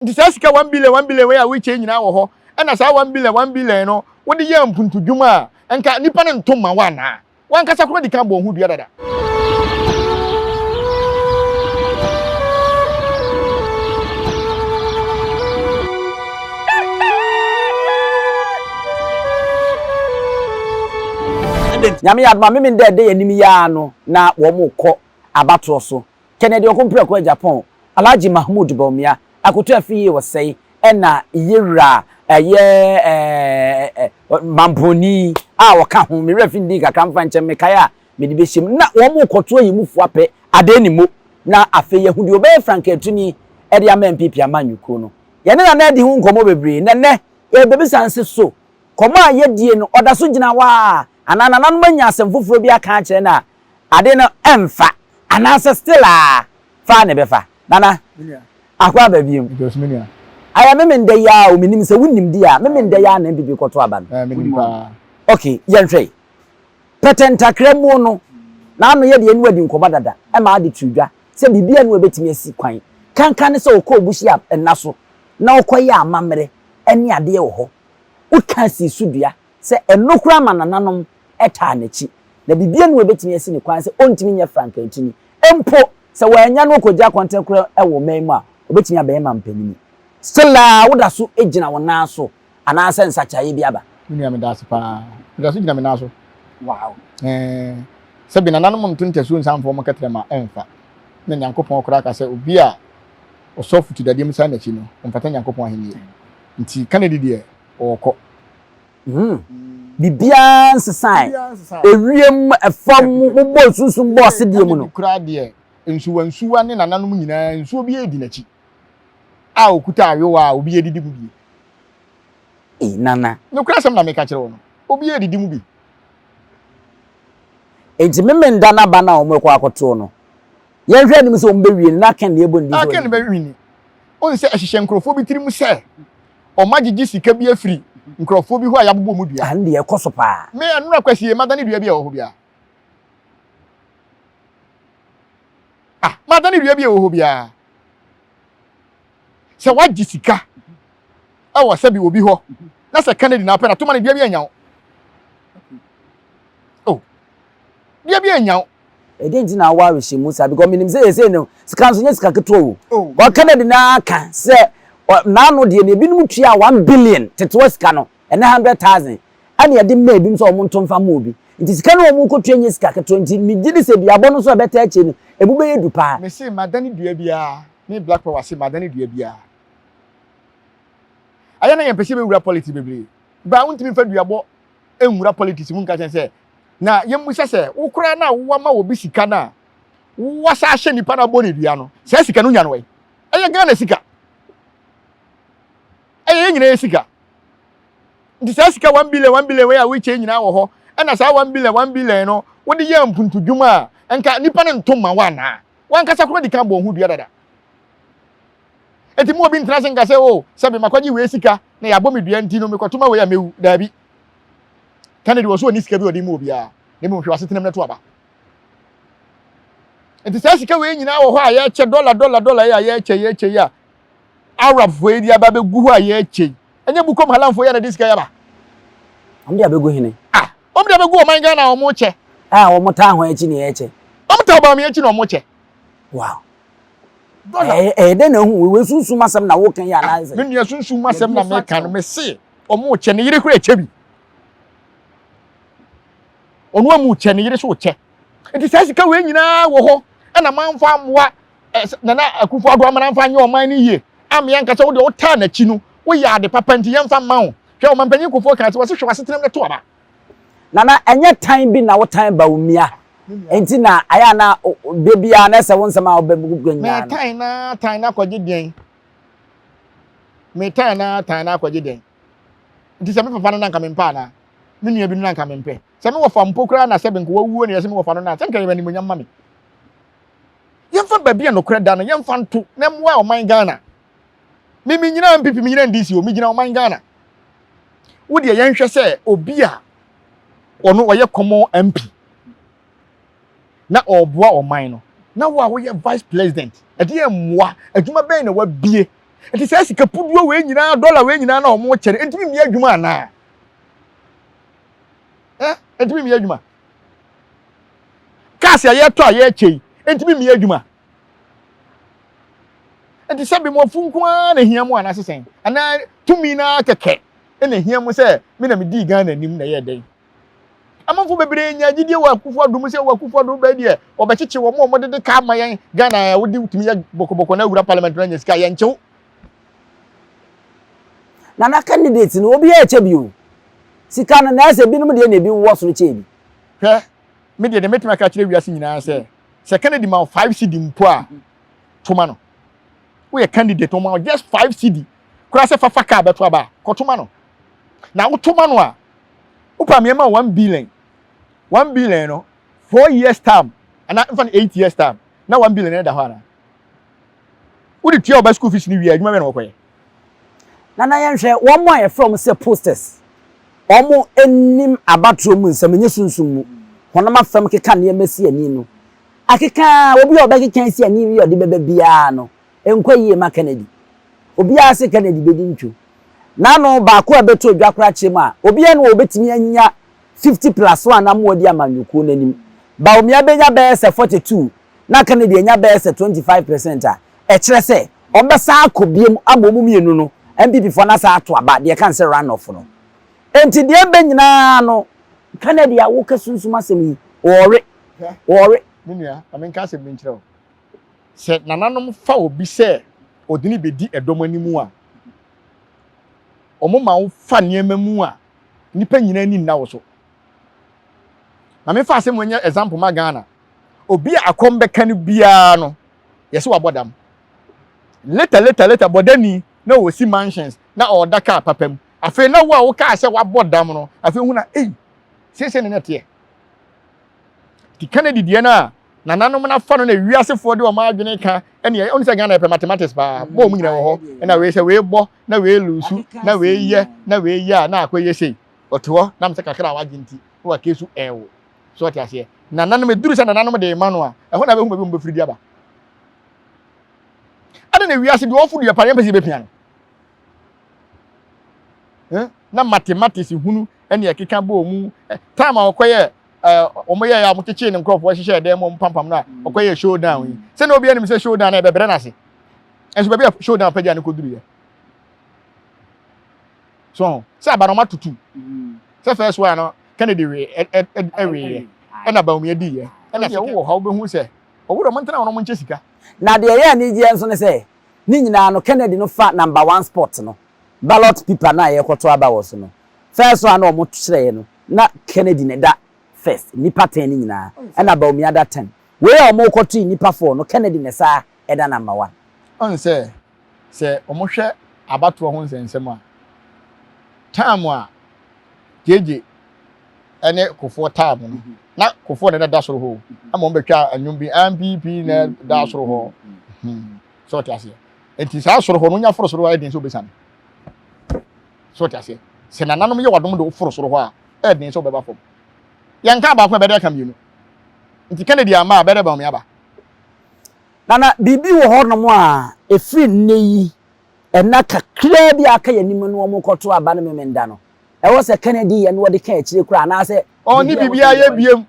nti saa sika one billion one billion wei a wokyɛ nyinaa wɔ hɔ ɛna saa one billion one billion no wode yɛ mpuntudwuma a nka nipa no nto ma wo anaa wankasa kora di kan bɔ ho dua dada nyame yɛ adoma meme dɛ ɛdɛ yɛ anim yɛ ano na wɔn kɔ abatoɔ so Kennedy Okompreko Agyapong, Alhaji Mahmood Bawumia, Akoto Afie Osei ɛna Yewura ɛyɛ ɛɛ Mamponi a ɔka ho. Me werɛ fi ndii kakra mfa nkyɛ mekae a mede bɛhyɛ mu. Na wɔn rekɔto ayi mu fo apɛ Adee ne Mo na afei yɛahu deɛ ɔbɛyɛ frankaatuni de ama NPP amanyɔkuo no. Yɛne Nana adi ho nkɔmmɔ bebree na nnɛ yɛrebɛbisa no se so kɔmmɔ a yɛdie no ɔda so gyina hɔ ara anaa nananom anya asɛm foforɔ bi aka akyerɛ no a ade no ɛmfa anaasɛ still a faa na ɛbɛfa nana ako aba biom ayɛ meme ndɛ yi aa o menim sɛ wonim di a meme ndɛ yi aa na mpp kɔto aba no ok yɛnhwɛ yi pɛtɛ ntakra muo no na ano yɛ deɛ ɛne wadi nkɔmɔ dada ɛma ade to dwa sɛ biribi ɛne ɛbɛtumi asi kwan kankan ne sɛ ɔkɔɔ buhyia nna so na ɔkɔ yɛɛ amammerɛ ɛne adeɛ wɔ hɔ wokaa sii so dua. sɛ ɛno koraa ma nananom taa n'akyi, na biribiara nni hɔ a ebetumi asi no kwan sɛ ontumi nyɛ frankantini. Mpo sɛ wɔannya no ankogye akɔntene koraa wɔ ɔman mu a, obetumi abɛyɛ mampanyin. Still a woda so gyina wo nan so anaasɛ nsakyeraeɛ bi aba? Me nua, meda ase paa. Meda so gyina me nan so. Wow. Ɛɛ, sɛbe nananom nto ntasuo nsa mfa wɔn kɛtrɛma a, ɛmfa. Ɛna Nyankopɔn koraa ka sɛ obi a ɔsɔ afutu dadeɛ mu san n'akyi no, ɔmfata Nyankopɔn ahennie. Nti, Kennedy deɛ, ɔɔkɔ. Humm biribiara nsesae, ewiem, fam, mobɔɔ sunsum bɔɔ asedeɛ mu no. Ɛnna bi koraa deɛ, nsuwansuwa ne nananom nyinaa nsuo biara di n'akyi a ɔkuta ayowa a obiara didi mu bi. Ei nana. Nokorɛ asɛm na meka kyerɛ wo no, obiara didi mu bi. Enti Memenda no aba no a wɔrekɔ akɔtoɔ no, yɛnhwɛ anim sɛ wɔbɛwie no na Aken deɛ ɛbɔ ne din sɛ wadi. Aken bɛwe ni. Wohu sɛ ɛhyehyɛ nkorɔfoɔ bi tirim sɛ, wɔagyegye sika bi afiri nkurɔfoɔ bi hɔ a yɛabobɔ mu dua. Ah, ndeɛ ɛkɔ so paa. Me ɛnora kwasie madane dua bi a ɛwɔ hɔ biara. Ah, madane dua bi a ɛwɔ hɔ biara. Sɛ wagye sika ɛwɔ sɛbi obi hɔ na sɛ Kennedy na apɛ na toma ne dua bi anya wo. Oh. bia bi anya wo. Ɛdɛn nti na awɔ arehyɛ mu saa because menim sɛ yɛsɛ no sika nso nyɛ sika ketewa o wɔka no de no ara ka sɛ naano deɛ no ebinom tua one billion tetewa sika no ɛnɛ hundred thousand ɛne ɛde mma ebinom sɛ wɔn nto mfa mma obi nti sika no wɔn rekɔtua nyɛ sika ketewa nti megye di sɛ duabɔ no nso a ɛbɛtaa akyire no emu bɛyɛ du paa. Mese madane dua biara me black power se madane dua biara ayɛ na yɛmpɛ sɛ yɛbɛwura politics bebree baa wontumi mfa duabɔ nwura politics mu nka kyɛn sɛ Na yɛmmisa sɛ, wo koraa no a woama obi sika no a woasa ahyɛ nipa no abɔ no dua no, saa sika no nya no ɛ? Ɛyɛ Ghana sika. Ɛyɛ yɛn nyinaa sika. Nti saa sika 1 billion 1 billion wei a wokyɛ nyinaa wɔ hɔ, ɛna saa 1 billion 1 billion no wode yɛ mpuntudwuma a, nka nipa no nto ma wo anaa? Wankasa koro de ka bɔ ho dua dada. Eti mu obi ntena se nka sɛ o, sɛ me makɔgye wei sika na yɛabɔ me dua nti no mekɔto ma wei a mewu. Daabi. Kennedy wɔ so ɔni sika bi ɔde mu obiara na mmom hwɛ w'asetenam no to aba nti saa sika wei nyinaa wɔ hɔ a yɛkyɛ dɔla dɔla dɔla yi a yɛkyɛ yɛkyɛ yi a arabfoɔ yi de aba bɛgu hɔ a yɛkyɛ yi ɛnyɛ bukom halamfoɔ yi a na de sika yi aba ɔmo de abɛgu hene ah ɔmo de abɛgu ɔman ghana a ɔmo kyɛ a ɔmo taa ho akyi na yɛkyɛ ɔmo taa ɔbaame akyi na ɔmo kyɛ wow ɛyɛ dɛ na ehu wo sunsum asɛm na woka yi anaasɛ me nua sunsum asɛm na meka no mese Ɔmo kyɛ ne yere koraa kyɛ bi. Ɔno amu kyɛ ne yere so kyɛ. Nti saa sika wei nyinaa wɔ hɔ ɛna manfa ammoa Nana Akufo Addo ama n'amfa anyɛ ɔman no yie ammea nka sɛ wo deɛ wotaa n'akyi no woyɛ ade papa nti yɛmfa mma wo. Hwɛ Ɔmanpanyin Kufuor kaa sɛ wɔse hwɛ w'asetenam no to aba. Nana ɛnyɛ tan bi na wotan Bawumia nti na ayɛ a na da biara na ɛsɛ wo nsɛm a wobɛbu nyinaa no. Mɛtan na tan na kɔgye deɛn? metaa na taa na akɔgye dɛn nti sɛ me papa no na nka mempɛ anaa me nua bi no na nka mempɛ sɛ me wɔfa mpo koraa na sɛ benko wawuo na yɛsɛ me wɔfa no na sɛ nka yɛbɛ nimonyam ma me yɛmfa baabi a nokorɛ da no yɛmfa nto na mmoa ɔman ghana me menyina mpp menyina ndc o megyina ɔman ghana wodeɛ yɛnhwɛ sɛ obi a ɔno ɔyɛ kɔmɔ mp na ɔreboa ɔman no. Na wo a woyɛ vice president, ɛdeɛn mmoa, adwuma bɛn na wabue? Ɛnti saa sika puduo wei nyinaa, dollar wei nyinaa na wɔn kyɛ no, ɛntumi mmie adwuma anaa? Ɛ? Ɛntumi mmie adwuma? Cars a yɛretɔ a yɛrekyɛ yi, ɛntumi mmie adwuma? Ɛnti sɛ bemɔfo nko ara na hia mu anaa sesɛn? Anaa tumi no ara kɛkɛ na hia mu sɛ me na medii Ghana anim na ɛyɛɛ dɛn? Amanfoɔ bebree nyaa gyidie wɔ Akufo Addo mu sɛ wɔ Akufo Addo bɛɛ deɛ wɔbɛkyekye wɔn a wɔdede kaa ma yɛn Ghana a wode tumi yɛ bɔkɔbɔkɔ na awura parliament no anya sika a yɛnkye wo. Nana candidates no obiara ɛkyɛ bi o. Sika no naɛsɛ binom deɛ na ebi wowɔ soro kyɛɛ bi. Hwɛ, me deɛ deɛ mɛtumi aka akyerɛ wiase nyinaa sɛ, sɛ Kennedy ma wo 5 cedi mpo a, toma no. Woyɛ candidate, ɔma wo just 5 cedi koraa sɛ fafa kaa bɛto aba a, kɔtoma no. Na wotoma no a, wopa mmeɛma a one billion one billion no four years term ana nfa no eight years term na one billion no da hɔ ana wode tua ɔba school fees no wie adwuma bɛ na wɔkɔyɛ na na yɛnhwɛ wɔn a yɛfrɛ wɔn sɛ posters wɔn anim abatoɔ mu nsɛm nyɛ sunsum mu honam afam keka nneɛma si ani no akeka obi a ɔbɛkeka si ani yi ɔde bɛba biara no Ɛnkɔ yie ma Kennedy. Obiara se Kennedy bɛdi ntwo. N'ano baako a ɛbɛto adwa koraa kyerɛ mu a, obiara nni hɔ a ɔbɛtumi anya 50 plus one ama wadi amanyɔkuo no anim. Bawumia bɛnya bɛyɛ sɛ 42 na Kennedy anya bɛyɛ sɛ 25 percent a, ɛkyerɛ sɛ wɔbɛsan akɔ biom ama wɔn mmienu no, NPP foɔ no asan ato aba, deɛ ɛka ne sɛ run off no. Enti deɛ ɛbɛ nyinaa no, Kennedy a woka sunsum asɛm yi, ɔɔwe, ɔɔwe. Me nua, ma menka asɛm bi nkyerɛ wo. sɛ nananom fa obi sɛ ɔde no bɛdi ɛdɔm anim a, wɔma wo fa nneɛma mu a nnipa nyinaa ani nna wo so. Na mefa asɛm wɔ nyɛ example ma Ghana. Obi a akɔm bɛka no biara no, yɛsɛ wabɔ dam. Later, later, later, bɔdani na ɔsi mansions na ɔda kaa papa mu. Afei na wo a wokaa sɛ wabɔ dam no, afei hu na ei, seesei na na ɛteɛ. Ti Kennedy deɛ no a, Nananom no afa no na wiasefoɔ de wɔn adwene ka ɛne ɛyɛ. Ɔno sɛ Ghana yɛpɛ mathematics paa. Bɔ wɔn nyinaa wɔ hɔ. Ɛna wei sɛ wei bɔ na wei lusu na wei yɛ na wei yɛ a na akɔ yɛ sei. Ɔte hɔ nam sɛ kakra a wagye nti na wake su ɛɛwo. So ɔte aseɛ. Nananom ɛduru sɛ nananom de ma no a ɛhɔ na bɛhu baabi wɔn bɛfiri de aba. Ɛne na wiase deɛ ɔfo deɛ paa yɛmpɛ sɛ yɛbɛpia no. Na mathematics hunu ɛne ɛkeka bɔ wɔn mu. Time a ɔkɔyɛ wɔn yɛɛ a wɔn kyekyee ne nkurɔfoɔ hyehyɛ ɛdan mu wɔn pampam no a ɔkɔ yɛ showdown yi sɛnea obi anim sɛ showdown na ɛbɛbrɛ n'ase nso baabi a showdown pɛgya ne kɔduru yɛ so sɛ aba na wɔn atutu mm. sɛ first one no kennedy wee ɛwee yɛ ɛna bawumia di yɛ ɛna sɛ wowɔ hɔ wobɛhu sɛ ɔwura wɔn ntena wɔn nkyɛ sika. na deɛ ɛyɛ anigyeɛ nso ne sɛ ne nyinaa no kennedy no fa number one spot no ballot paper no a yɛkɔto aba wɔ so no first one na wɔn kyerɛɛ no na Kennedy na ɛda first nnipa ten no nyinaa ɛna Bawumia da ten wei a wɔn kɔ to yi nnipa four no Kennedy na ɛsaa ɛda number one. Woahu sɛ sɛ wɔn hwɛ abatoɔ ho nsɛnsɛm a time a gyegye ɛne kofoɔ time no na kofoɔ na ɛna da soro hɔ o ɛma wɔn bɛtwa ɛnwom bi npp na ɛda soro hɔ hmm sɛ ɔte aseɛ nti saa soro hɔ no wonya foro soro ayɛ den sɛ obɛsane. So ɔte aseɛ? Sɛ nananom yɛ w'adom de wo foro soro hɔ a, ɛyɛ den sɛ wobɛba fam. Yɛn kaa baako a ɛbɛyɛ dɛ aka mmienu. Nti Kennedy amma a, ɛbɛyɛ dɛ Bawumia aba. Nana, biribi wɔ hɔnom a ɛfiri nnɛ yi, nna kakraa bi a aka yɛn anim no wɔn rekɔto aba no Memenda no. Ɛwɔ sɛ Kennedy yɛ na ɔde ka akyire koraa anaasɛ. Ɔnni biribiara a yɛyɛ biom.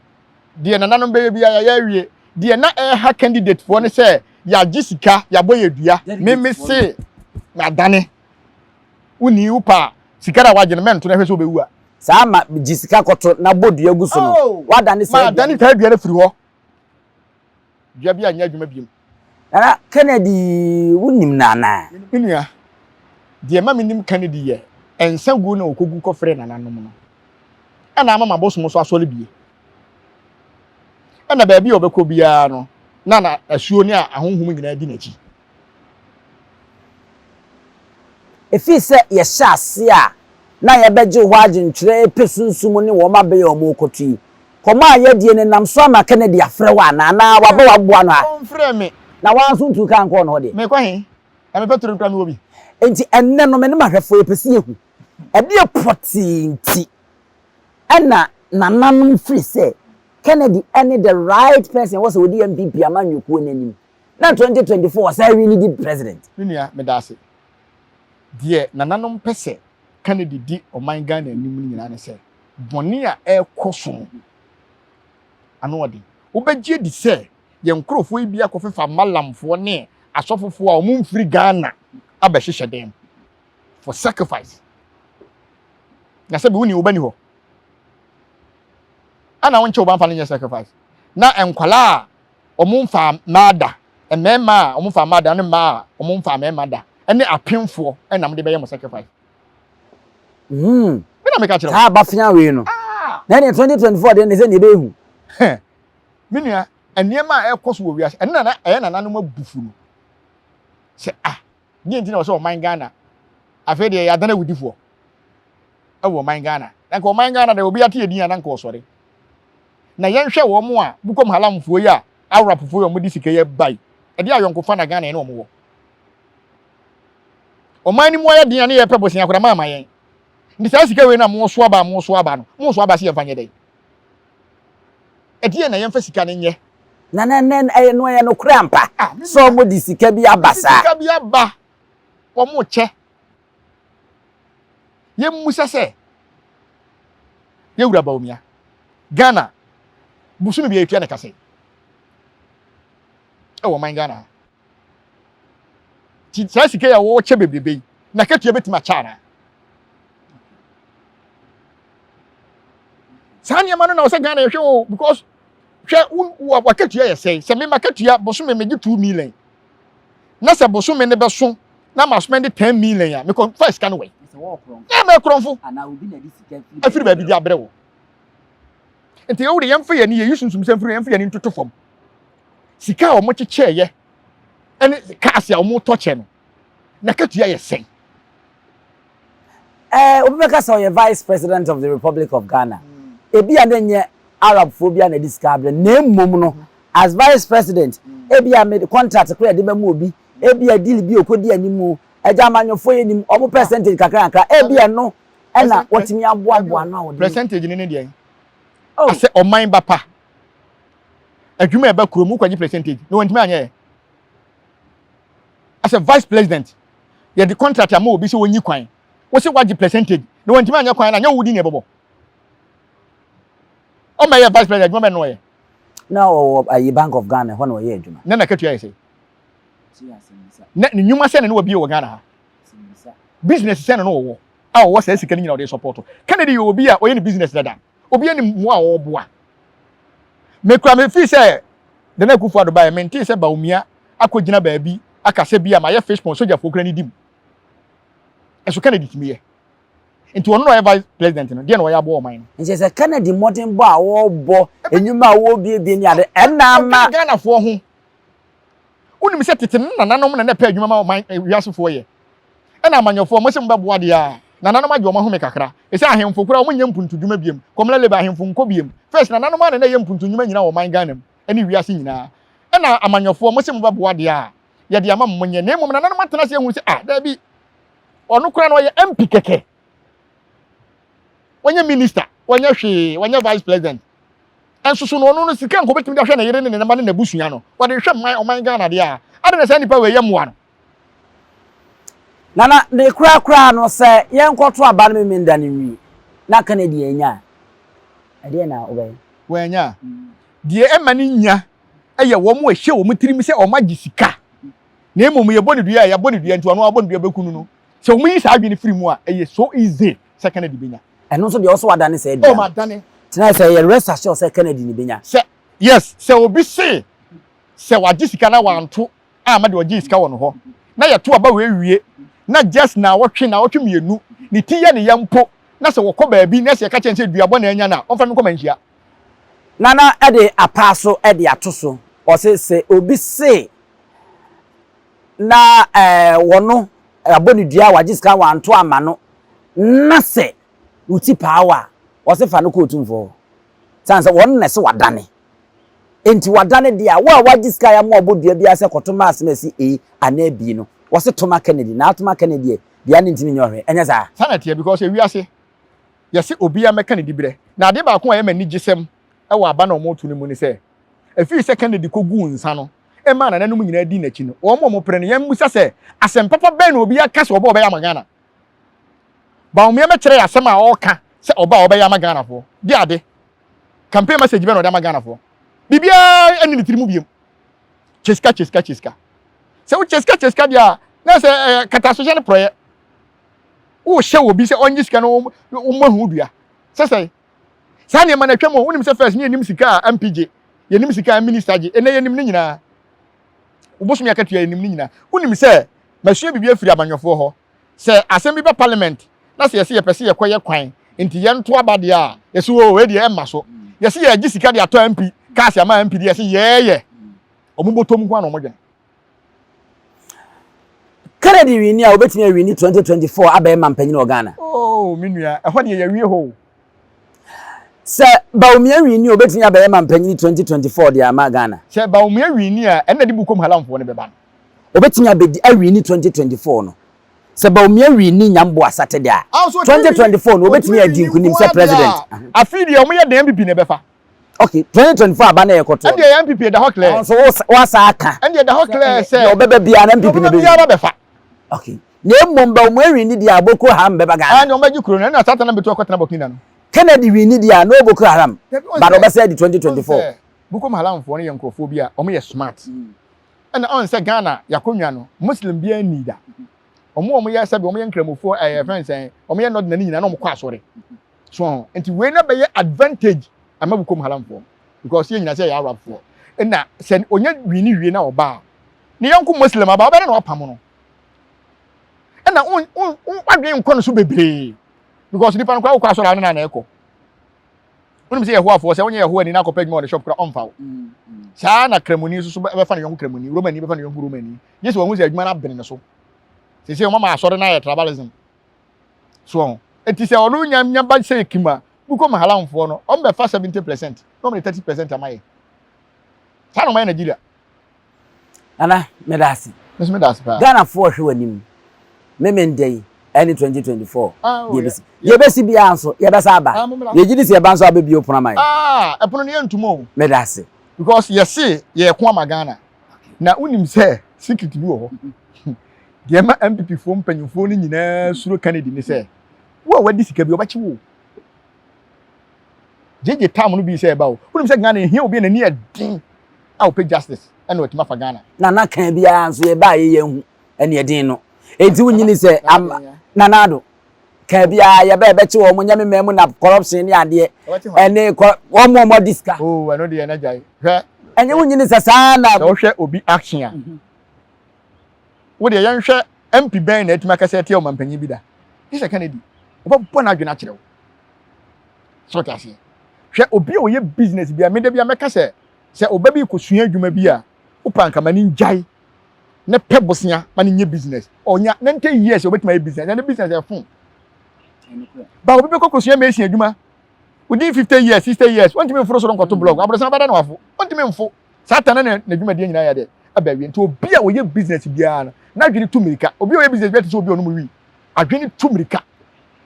Deɛ nananom bɛyɛ biara yɛayɛ awie. Deɛ na ɛreha candidatefoɔ ne sɛ yɛagye sika, yɛabɔ yɛn dua. Me, me se, Madane. Wo nii wo paa. Sika na wagye no mɛnto na hwɛ sɛ obewu a. Saa ma gye sika kɔto na bɔ dua gu so no oh, wadane saa dua. Ma dane saa dua no firi hɔ. Dua bi a nyɛ adwuma biom. Nana Kennedy wo nim no anaa. Me nua deɛ ma me nim Kennedy yɛ ɛnsa gu na okogu kɔfrɛ nana nom no. Ɛna ama ma bosom so asɔre bie. Ɛna baabi a ɔbɛkɔ biara no na na asuo ne ahonhom nyinaa di n'akyi. Efii sɛ yɛhyɛ ase a na yɛbɛgye hɔ adwenkyerɛ epɛ sunsum ne wɔn abɛyɛ wɔn okoto yi. Kɔm a yɛdie no nam so ama Kennedy afrɛ wo anaa? Anaa waba waboa no a? Ɔnfrɛɛ me. Na woaa nso ntuu kaa nkɔɔ ne hɔ deɛ? Mekɔ he? Na me pɛtro no koraa mewɔ bi. Enti ɛnnɛ no me ne m'ahwɛfoɔ yɛpɛ sɛ yɛhu ɛdeɛ pɔtee nti na nananom firi sɛ Kennedy ne the right person a ɛwɔ sɛ ɔdi MPP amanyɔkuo no anim. na twenty twenty four ɔsan wini di president. Me nua meda ase. Deɛ nananom pɛ sɛ Kennedy di ɔman Ghana anim no nyinaa ne sɛ bɔne a ɛrekɔ so no ano ɔden. Wobɛgye adi sɛ yɛn nkorɔfoɔ yi bi akɔfefa Malamfoɔ ne Asɔfofoɔ a wɔn mfiri Ghana abɛhyehyɛ dan mu for sacrifice. Na sɛbi woni wo ba ni hɔ. Ana wonkyɛ wo ba mfa no nyɛ sacrifice. Na nkwadaa a wɔmfaa mmaa da, mmarima a wɔmfaa mmaa da ne mmaa a wɔmfaa mmarima da, ne apemfoɔ na mode bɛyɛ mo sacrifice. Hmm. Me na meka kyerɛ wo. Saa abafea wei no. Ah. Na ɛne 2024 deɛ ne sɛ ne ɛbɛhu. Me nua, nneɛma a ɛrekɔ so wɔ wiase, ɛno nana ɛyɛ nananom abufu no. Sɛ ah, deɛ nti na wɔ sɛ ɔman Ghana, afei deɛ yɛadana awudifoɔ ɛwɔ ɔman Ghana. Na nka ɔman Ghana deɛ obi ate yɛ din a na nka ɔsɔre. na yɛnhwɛ wɔn a Bukom Halamfoɔ yi a Awrapfoɔ yi a wɔde sika yi bae, ɛdeɛ ayɔnkofa na Ghana yɛne wɔn wɔ? Ɔman no mu ayɛ den a ne yɛpɛ bosea koraa moamma yɛn. Nti saa sika wei no a moso aba a moso aba no, moso aba se yɛmfa nyɛ dɛn? Ɛdeɛ na yɛmfa sika no nyɛ? Na na na ɛyɛ no ɛyɛ nokorɛ ampa sɛ wɔde sika bi aba saa? Wɔde sika bi aba wɔn kyɛ. Yɛmmisa sɛ, Yɛwura Bawumia, Ghana bosome biara yɛtua ne ka sɛn? Ɛwɔ ɔman Ghana ha. Nti saa sika yi a wɔkyɛ bebrebe yi, n'akatua bɛtumi akyɛ anaa? Saa nneɛma no na ɔsɛ Ghana yɛhwɛ o because hwɛ wo wakatua yɛ sɛn sɛ me makatua bosome megye two million na sɛ bosome no bɛso na ma spend ten million a mekɔ fa sika no wɛn na ɛmɛ korɔmfo afiri baabi de abrɛ wo nti yɛwo de yɛmfa yɛn ani yɛyi sunsum sɛ mfiri yɛmfa yɛn ani ntoto fam sika a wɔn kyekyɛɛyɛ ɛne kaase a wɔn tɔ kyɛ no N'akatua yɛ sɛn? Eh, obi bɛka sɛ ɔyɛ Vice President of the Republic of Ghana. Ebia na ɛnyɛ Arabfoɔ bi a na ɛde sika abrɛ no, na mmom no, as Vice President, ebia mede contract koraa a yɛde bɛma obi, ebia deal bi a ɔkɔdi anim, agya amanyɔfoɔ yi anim, wɔn percentage kakra kakra, ebia ɛno na wɔtumi aboaboa ano a wɔde. Percentage no ne deɛn? Oh. Asɛ ɔman ba pa. Adwuma a ɛba kurom, wokɔgye percentage na wɔntumi anyɛ ɛ. as a vice president yɛde contract ama obi sɛ ɔnyi kwan wose wagye percentage na wantumi anyɛ kwan na nyɛ wodi ne ɛbɔbɔ ɔma yɛ vice president adwuma bɛ nnɔɔyɛ na ɔwɔ ayi bank of Ghana hɔ na ɔyɛ adwuma na nakatua yɛ sɛ na ne nnwuma sɛ na ne wabie wɔ Ghana ha business sɛ na no wɔwɔ a ɔwɔ saa sika no nyina ɔde support Kennedy yɛ obi a ɔyɛ ne business dada Obi anim mmoa a ɔreboa. Me koraa me fii sɛ Nana Akufo Addo baeɛ me ntee sɛ Bawumia akɔ gyina baabi aka sɛ bia mayɛ fish pond sogyafoɔ koraa nidi mu. Ɛso Kennedy tumi yɛ. Nti ɔno na ɔyɛ vice president no deɛ na ɔyɛ aboa ɔman no. Nkyɛ sɛ Kennedy mmɔdenbɔ a ɔrebɔ, nnwuma a ɔrebiebie ne ade, ɛna ama. Ɔka Ghanafoɔ ho Wonim sɛ tete no nananom na na ɛpɛ adwuma ma ɔman eh, wiasefoɔ yɛ. Ɛna amanyɔfoɔ, mo se mobɛboa deɛ a, nananom agye wɔn ahome kakra. Ɛsɛ ahemfo koraa wɔn nyɛ mpuntudwuma biam. Kɔmla Leba, ahemfo nkɔ biam. First, nananom ara na na ɛyɛ mpuntudwuma nyina wɔ ɔman Ghana mu, ɛne wiase nyinaa. Ɛna amanyɔfoɔ, mo se mobɛboa deɛ a, yɛde ama mo monyɛ. Na mmom nananom atena ase ahunu sɛ, ah, daabi, ɔno koraa no ɔyɛ MP kɛkɛ. wɔnyɛ minister wɔnyɛ hwee wɔnyɛ vice president ɛnso so no ɔno no sika nka obetumi de ahwɛ ne yere ne ne mma ne n'abusua no wɔde hwɛ mman ɔman ghana deɛ a ade na saa nipa wei yɛ mmoa no. na na ne kura kura no sɛ yɛn kɔto aba no mimi nda ne nwi na ka ne deɛ anya ɛdeɛ na ɔbɛyɛ. wɔanya a deɛ ɛma ne nya ɛyɛ wɔn a ɛhyɛ wɔn tirim sɛ wɔn agye sika na mmom yɛbɔ ne dua a yɛabɔ ne dua nti ɔno abɔ ne dua bɛku no no. Sɛ wɔn yi saa adwene firi mu a, ɛyɛ so easy sɛ Kennedy bɛnya. Ɛno nso deɛ ɔsɔ adane saa dua. Oh ma dane. Tena sɛ yɛ rest assured sɛ Kennedy ne bɛnya. Sɛ yes sɛ obi se sɛ wagye sika na wanto a ma deɛ ɔgyee sika wɔ no hɔ na yɛ to aba wɔ awie na just naawɔtwe naawɔtwe mmienu ne ti yɛ ne ya mpo na sɛ wɔkɔ baabi na sɛ yɛka kyerɛ no sɛ dua bɔne anya no a ɔmfa no nkɔ manhyia. Nana de apaa so de ato so ɔse sɛ obi se. na wɔ no abɔ no dua a wagye sika wanto amma no na sɛ wo ti paa wo a wɔse fa no kɔ otumfoɔ hɔ sane sɛ wɔn na ɛse wadane enti wadane deɛ a wo a wagye sika ya ma ɔbɔ dua biara sɛ kɔto ma asem asi A anaa B no wɔse to ma Kennedy na ato ma Kennedy deɛ deɛ ne ntimi nyɛ ɔhwɛ ɛnyɛ saa saa na ɛteɛ because ewiase yɛse obi ya mɛka ne dibrɛ na adeɛ baako a ɛyɛ ma anigyesɛm ɛwɔ aba na wɔn to no mu ne sɛ ɛfiri sɛ Kennedy kɔguu nsa no ɛmaa nananom nyinaa dii n'akyi no, wɔn a wɔpere no, yɛmmisa sɛ, Asɛm papa bɛn na obi aka sɛ ɔba a ɔbɛyɛ ama Ghana? Bawumia bɛkyerɛ yɛn asɛm a ɔka sɛ ɔba a ɔbɛyɛ ama Ghanafoɔ de ade? Campaign message bɛn na ɔde ama Ghanafoɔ? Biribiara nni ne tiri mu biom. Kyeska, kyeska, kyeska. Sɛ wo kyeska kyeska deɛ a, na sɛ ɛyɛ katasohyɛ ne porɔeɛ. Wohyɛ obi sɛ ɔnye sika no wɔmmɔ ho dua. Sɛ sɛn? Saa nneɛma no atwam o. Wonim sɛ first ne yɛnim sika a MP gye, yɛnim sika a minister gye, ɛnɛ yɛnim ne nyinaa. Wo bosome akatua yɛnim ne nyinaa. Wonim sɛ masua biribi afiri amanyɔfoɔ hɔ. Sɛ asɛm bi ba parliament na sɛ yɛse yɛpɛ sɛ yɛkɔyɛ kwan nti yɛnto aba deɛ a, yɛse oo wei deɛ ɛmma so. Yɛse yɛgye sika de atɔ MP cars ama MP deɛ yɛse yɛɛyɛ. Wɔn bɔtɔm nko ara na wɔdwene. Kennedy wini a wobɛtumi awini 2024 abɛɛma mpanyin wɔ Ghana. Oh, me nua, ɛhɔ deɛ yɛwie hɔ o. Sɛ Bawumia wini a obɛtumi abɛyɛ ma mpanyin 2024 deɛ ama Ghana. Sɛ Bawumia wini a ɛnna de Bukom Halamfoɔ no bɛba no. Obɛtumi abɛdi awini 2024 no. Sɛ Bawumia wini Nyambo Asate deɛ a, 2024 no obɛtumi adi nkunim sɛ president. Afei deɛ wɔyɛ dɛn bibi na ɛbɛfa. Okay, 2024 aba na yɛ kɔtɔ. Ɛndeɛ yɛ NPP ɛda hɔ clear. Ɔno nso wo wa sa aka. Ɛndeɛ ɛda hɔ clear sɛ. Deɛ ɔbɛba biara na NPP na bɛyi. Deɛ ɔbɛba biara bɛfa. Okay, na mmom ba ɔmo ɛwin ni deɛ a Boko Haram bɛba Ghana. Ɛndeɛ ɔmo bɛgye kuro no, ɛna saa tana bɛtu akɔ tena Burkina no. Kennedy win ni deɛ a no Boko Haram, ba na ɔbɛsɛ di 2024. Boko Haram foɔ no yɛ nkorɔfoɔ bi a ɔmo yɛ smart. Ɛna ɔn sɛ Ghana yakonnwa no Muslim biara nni da. Ɔmo ɔmo yɛ sɛbi ɔmo yɛ nkramofoɔ ɛɛ fɛn sɛn ɔmo yɛ nɔdina no nyinaa na ɔmo kɔ asɔre. So nti wei na bɛyɛ advantage ama Bukom Haramfoɔ because yɛ nyina sɛ yɛ Arabfoɔ na sɛ ɔnya wii ne wie na ɔba a ne yɔnko Muslim aba ɔbɛne na wapam no ɛna wadwene nkɔ no so bebree because nipa no koraa wokɔ asɔre a ne na na ɛkɔ wonim sɛ yɛhoafoɔ sɛ wonyɛ yɛhoa ni na akɔpɛ adwuma wɔ ne shop koraa ɔmfa wo mm, mm. saa na kramoni nso so bɛfa ne yɔnko kramoni romani bɛfa ne yɔnko romani gye sɛ wɔhu sɛ adwuma no abene ne so sɛ sɛ wɔma asɔre no ayɛ tribalism so ɔn eti sɛ ɔno nya nya ba sɛ ekim a mokɔ mu halam foɔ no ɔmo bɛ fa seventy percent na ɔmo de thirty percent ama yɛ saa na ɔmo ayɛ Nigeria. Nana meda ase. Meso meda ase paa. Ghana foɔ hwɛ w'anim me me ndɛ yi ɛne twenty twenty four deɛ ebesi deɛ ebesi biara nso yɛ bɛ san aba yɛ gye di sɛ yɛ ba nso abɛ bie opono ama yɛ. Aa ɛpono no yɛ ntum o. Meda ase. Because yɛ se yɛ ko ama Ghana na wonim sɛ secret bi wɔ hɔ. Deɛ ɛma NPP foɔ mpanyinfoɔ no nyinaa suro Kennedy ne sɛ, wo a wadi sika bi, ɔbɛkye wo o. Gyegye tam no bi sɛ ɛba o. Wonim sɛ Ghana ɛhia obi a n'ani yɛ den a ɔpɛ justice ɛna watumi afa Ghana. Nana kan biara nso yɛ baayɛ yɛ nhu ɛne ɛden no. Ɛnti wo nyini sɛ ama Nana Addo kan biara yɛ bɛ ɛbɛkye wɔn nyɛ me mɛmu na corruption ne adeɛ ɛne kɔ wɔn mu ɔmɔ di sika. Oo ɛno deɛ na gyae hwɛ. Ɛnyɛ wo nyini sɛ saa na. Sɛ wohwɛ obi action a. Wo deɛ yɛnhwɛ MP bɛn na atumi akasa atia ɔmampanyin bi da? Gye sɛ Kennedy. Ɔbɛbɔ n'adwene akyerɛ wo. So wote aseɛ? Hwɛ obi a ɔyɛ business bi a, me da bi a mɛka sɛ, sɛ ɔba bi rekɔsua adwuma bi a, wo paa nka ma no ngyae ne pɛ bosea ma no nyɛ business. Ɔnya 90 years a ɔbɛtumi ayɛ business. Ɛnɛ business ɛfo. Ba obi bɛkɔ kɔsua mason adwuma within 50 years, 60 years, ɔntumi mforo soro nkɔto block. Aborɔsan bɛda na wafo. Ɔntumi mfo. Satan na ne dwumadie nyinaa yɛ dɛ aba awie nti obi a ɔyɛ business biara no n'adwene tu mmirika obi a ɔyɛ business biara te sɛ obi a ɔnom wii adwene tu mmirika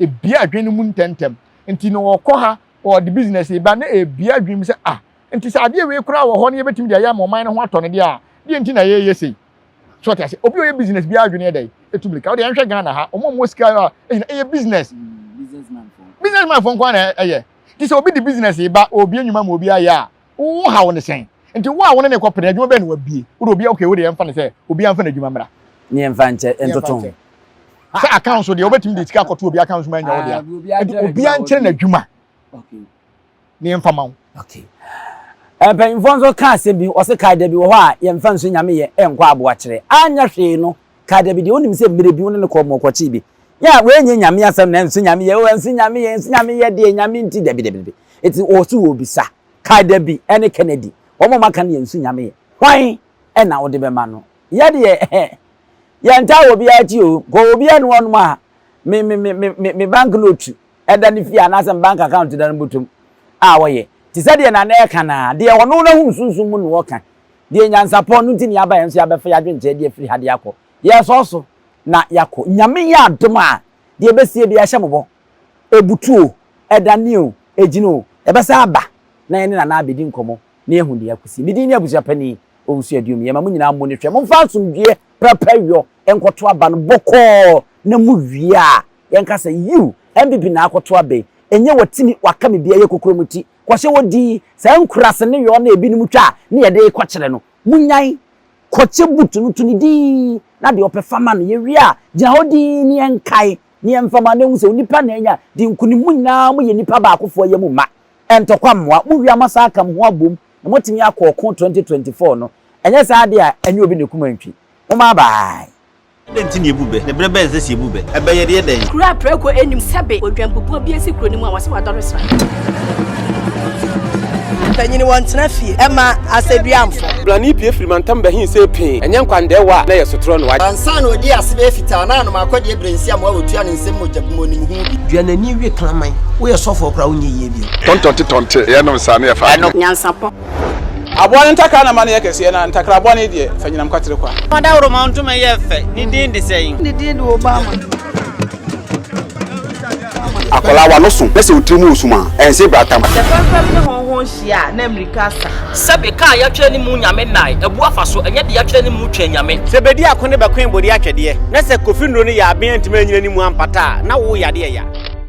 ebia adwene no mu ntɛntɛm nti na ɔkɔ ha ɔde business ba na ebia adwene mu sɛ ah nti sɛ adeɛ wei koraa wɔ hɔ na yɛbɛtumi de ayɛ ama ɔman no ho atɔ no deɛ a deɛ nti na yɛyɛ sei so ɔte ase obi a ɔyɛ business biara adwene yɛ dɛ etu mmirika ɔde ɛnhwɛ Ghana ha ɔmo ɔmo sika a ɛyɛ ɛyɛ business businessman fo nko ara na ɛyɛ ti sɛ obi de business ba ɔbie nnwuma ma obi ayɛ a Wo haw ne sɛn? Nti wo a wo ne no rekɔ pene, adwuma bɛn na wabue? Wo de obiara okay, wo de yɛmfa no sɛ obiara mfa n'adwuma mmra. Ne yɛmfa nkyɛ ntoto ho. Sɛ account so deɛ wobɛtumi de sika akɔto obiara account so ma anya wo dea. Nti obiara nkyerɛ n'adwuma na yɛmfa ma wo. Okay. Eh, mpanyinfoɔ nso ka asɛm bi, wɔse kae da bi wɔ hɔ a yɛmfa nsu nyame yɛ ɛnkɔ aboakyerɛ anyɛ hwee no kaa dabi deɛ wonim sɛ mmerɛ bi wo ne no kɔɔ mɔɔ kɔkyee bi yɛ a wei nyɛ nyame asɛm na nso nyame yɛ nso nyame yɛ nso nyame yɛ deɛ nyame nti dabi dabi dabi ɛti wɔ so wɔ bisa kaa dabi ɛne Kennedy wɔn a maka no yɛ nso nyame yɛ hwan ɛna wode bɛma no yɛ deɛ yɛntaa wɔ biara ti o kɔ wɔ biara ne wɔnom a me me me me me bank note da ne fie anaasɛ ne bank account da no bɔtɔm a ɔyɛ, te sɛ deɛ Nana ɛka no ara, deɛ ɔno n'ahunu sunsum mu na ɔka, deɛ nyansapɔ no nti na yɛaba yɛn nso yɛabɛfa yɛadwenkyerɛ de afiri ha de akɔ, yɛresɔ so na yɛakɔ, Nyame yɛ adom a, deɛ ɛbɛsie biara hyɛ mo bɔ, ɛbutu o, ɛdane o, ɛgyina o, yɛbɛsan aba na yɛne Nana abɛdi nkɔmmɔ na yɛahu deɛ akɔsi. Me din ne Abusua Panin Owusu Aduom, yɛma mo nyinaa mmɔ no hwɛ, momfa asomdwoeɛ prapra wiɔ nkɔto aba no bɔkɔɔ na mowie a, Yɛn ka sɛ yiw MBB na akɔto abɛ ɛnyɛ watimi waka me bi ɛyɛ kokorom ti kɔhyɛ wɔ di saa nkuraase ne yɔɔ na ɛbinom twa a ne yɛde rekɔ kyerɛ no mo nyan kɔkyɛ boot no to ne din na deɛ ɔpɛ fa ma no yɛ wie a gyina hɔ dinn ne yɛn kae ne yɛn fa ma no ɛhu sɛ onipa na anya di nkunim mo nyinaa mo yɛ nipa baakofoɔ yɛ mo mma ɛntɔkwa mmoa mo wie a mo asan aka mo ho abom na mo atimi akɔ ɔko 2024 no ɛnyɛ saa deɛ a ɛnyɛ obi na ɛkum antwi mo mma bye. Dɛn nti na yebu bɛ? Ne bere bɛn sɛ sɛ yebu bɛ? Ɛbɛyɛ deɛ dɛn? Kuro a prako nnim sɛbe odwanbubuo bi asi kuro no mu a wɔse wadɔre sra. Mpanyini wɔntena fie ɛma asɛduamfo. Brane pie firi mantam bɛ he se pee, ɛnyɛ nkwandɛɛwa a na ɛyɛ sotorɔ no. Ansa na ɔdi ase bɛyɛ fitaa na anom akɔdeɛ birensi amoa wɔtua ne nsam mogya gu mu ɔnim ho bi. Dua n'ani we kraman. Woyɛ sɔfoɔ koraa wonyɛ yie bio. Tɔntɔnte tɔnte, yɛnom saa na yɛfa adeɛ. Nyansapɔ. Aboa no ntakra na ma no yɛ kɛseɛ, na ntakra bɔne deɛ, fa nyinam kwatere kwa. Fa dawuroma ntoma yɛ fɛ, ne din de sɛn? Ne din de Obama. Akwadaa w'ano so na sɛ wo tiri mu resum a, ɛnse brata. Ɔsɛ fɛmfɛm ne hɔnho nhyia a, na mmirika asa. Sɛbe kaa yɛatwerɛ ne mu Nyame nnae, abu afa so, ɛnyɛ de yɛatwerɛ ne mu Twɛn Nyame. Sɛ bɛdi ako ne bɛkoe bode atwɛdeɛ, na sɛ Kofi Nnuro ne Yaaben antumi anyina ne mu ampata a, na wo yadeɛ ya.